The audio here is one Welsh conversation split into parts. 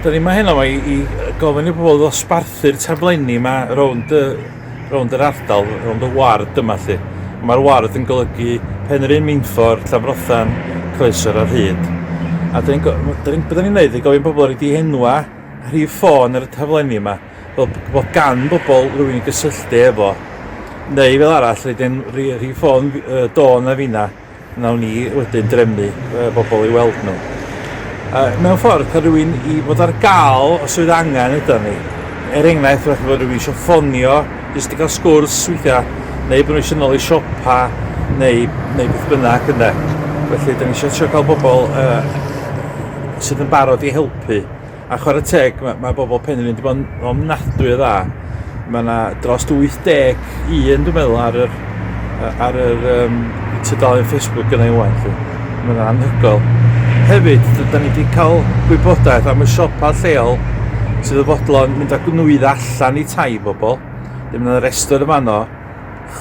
Da ni yma heno i, i gofyn i bobl ddosbarthu'r taflenni yma rownd y, rownd yr ardal, rownd y ward yma lle. Mae'r ward yn golygu Penrhyn, Minffor, Llanfrothan, Croesor ar hyd. A da ni'n gwneud ni'n i gofyn bobl ar ei dihenwa rhif ffôn ar y taflenni yma fel bod gan bobl rhywun i gysylltu efo neu fel arall rydyn rhif ffôn uh, Dawn a finna Wnawn ni wedyn drefnu yy bobl i weld nhw. Yy mewn ffordd, cael rhywun i fod ar gael os oedd angen ydan ni. Er enghraifft, falle bod rhywun eisiau ffonio jyst i gael sgwrs weithiau, neu bod nhw eisiau nôl i siopa neu neu beth bynnag ynde. Felly, 'dan ni isio trio cael bobl yy sydd yn barod i helpu. A chwarae teg, mae, mae bobl Penrhyn wedi bod yn ofnadwy o dda. Mae yna dros 81, dwi'n meddwl, ar yr, ar yr um, tudalen Facebook gyda ei waith. Mae yna anhygoel. Hefyd, da ni wedi cael gwybodaeth am y siopa lleol sydd yn fodlon mynd â gwnwyd allan i tai bobl. Dyma yna restr y fanno.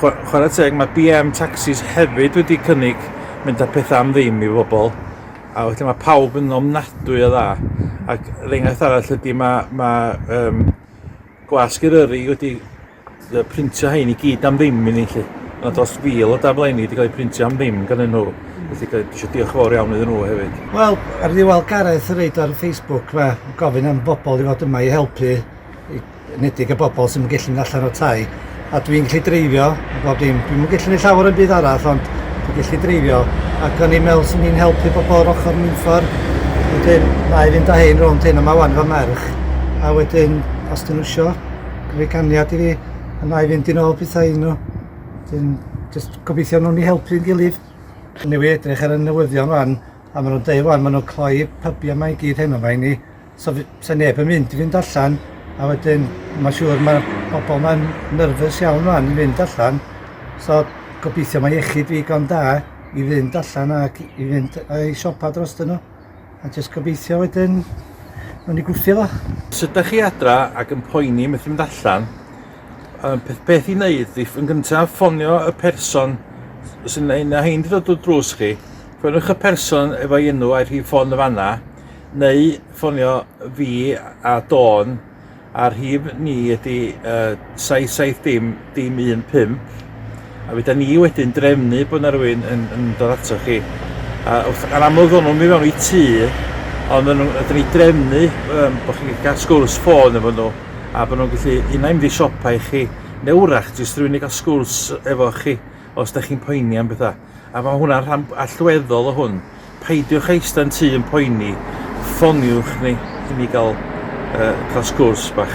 Chwarae teg, mae BM Taxis hefyd wedi cynnig mynd â pethau am ddim i bobl. A felly mae pawb yn ofnadwy o dda. Ac yr enghraifft arall ydy mae, mae um, gwasg Eryri wedi printio hein i gyd am ddim i ni chi. Mae dros fil o daflenni wedi cael eu printio am ddim gan nhw. Felly dwi eisiau diolch yn fawr iawn iddyn nhw hefyd. Wel, ar ddiwedd Gareth yn reid ar Facebook fe gofyn am bobl i fod yma i helpu i enedig y bobl sydd ddim yn gallu mynd allan o'r tai a dwi'n gallu dreifio a bob dim. Dwi'm yn gallu gwneud llawer yn byd arall ond dwi'n gallu dreifio ac o'n i'n meddwl sy'n ni'n helpu bobl o'r ochr mewnffor. Wedyn na i fynd â hyn rownd hyn a mae wan fy merch a wedyn os dyn nhw isio rhoi ganiad i fi a na i fynd i'n ôl pethau iddyn nhw. Wedyn jyst gobeithio nhw'n ni helpu'n gilydd. Newydd edrych ar y newyddion wan a maen nhw'n dweud wan maen nhw'n cloi pybiau mae i gyd heno mae ni So, so neb yn mynd i fynd allan a wedyn mae'n siŵr mae pobl mae'n nyrfys iawn rhan i fynd allan. So gobeithio mae iechyd fi gan da i fynd allan ac i fynd i siopa dros dyn nhw. A jyst gobeithio wedyn mae'n ni gwthio fo. Os ydych chi adra ac yn poeni methu mynd allan, y peth peth i wneud ydy yn gyntaf ffonio y person sy'n ein a hein wedi dod drws chi, ffoniwch y person efo'i enw a'i rhif ffôn y fanna, Neu ffonio fi a Dawn a'r rhif ni ydi uh, 77 dim dim 15 a fydda ni wedyn drefnu bod yna rhywun yn, yn dod ato chi a wrth, yn amlwg ddod nhw'n mynd fewn i tŷ ond yn, ydyn ni drefnu um, bod chi'n cael sgwrs ffôn efo nhw a bod nhw'n gallu unai mynd i siopa i chi neu wrach jyst rhywun i gael sgwrs efo chi os da chi'n poeni am bethau. A mae hwnna'n rhan allweddol o hwn. Peidiwch eista'n tu yn poeni, ffoniwch ni i ni gael, uh, cael sgwrs bach.